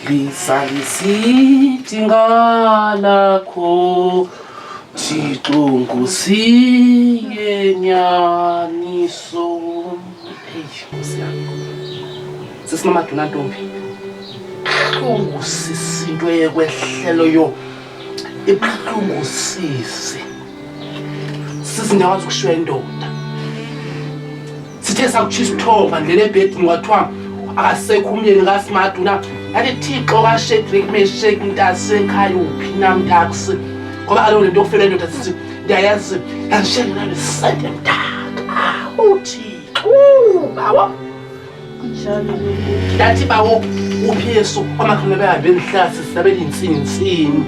Lisalisiti ngalakho Thixo ngusiyenyaniso. Hey, Nkosi yami. Sisinomaduna ntombi. Buhlungu sisi into eyekwehlelo yo. Ibuhlungu sisi. Sisi ndiyawazi ukushiywa indoda. sithe sakutsho isithonga ndlela ebhedini kwathiwa akasekho umyeni kasimadu na yathi thixo kashedrik meshek mntasekhaya uphi na mntakse ngoba kaloku le nto yokufela indoda sithi ndiyayazi yandishendela ndisente mntaka uthixo bawa ndathi bawo uphi yesu amakhono behambe endihlasi sisabe ndintsintsini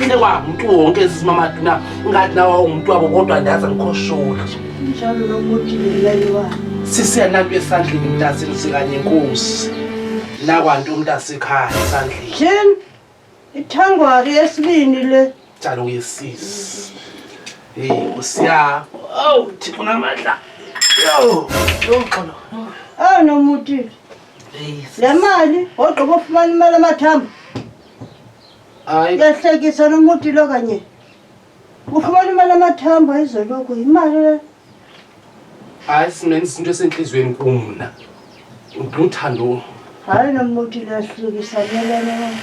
into kwamntu wonke zizimamadu na ngathi nawa ungumntu wabo kodwa ndaze ndikhosholi Njalo lomuthi ngilayiwa. Sisi yanantu esandleni mntasini sikanye inkosi. Nakwantu umntasekhaya esandleni. Jim, ithangwari yesibini le. Njalo uyesisi. Hey, usiya. Oh, thixo namandla. Yo, yo xolo. Oh, nomuthi. Hey, le mali ogqiba ufumana imali amathambo. Hayi. Yahlekisa nomuthi lo kanye. Ufumana imali amathambo ezoloku yimali le. Hayi sinene isinto esentliziyweni kum mna. Uthando. Hayi nommuthi lahlukisa melene.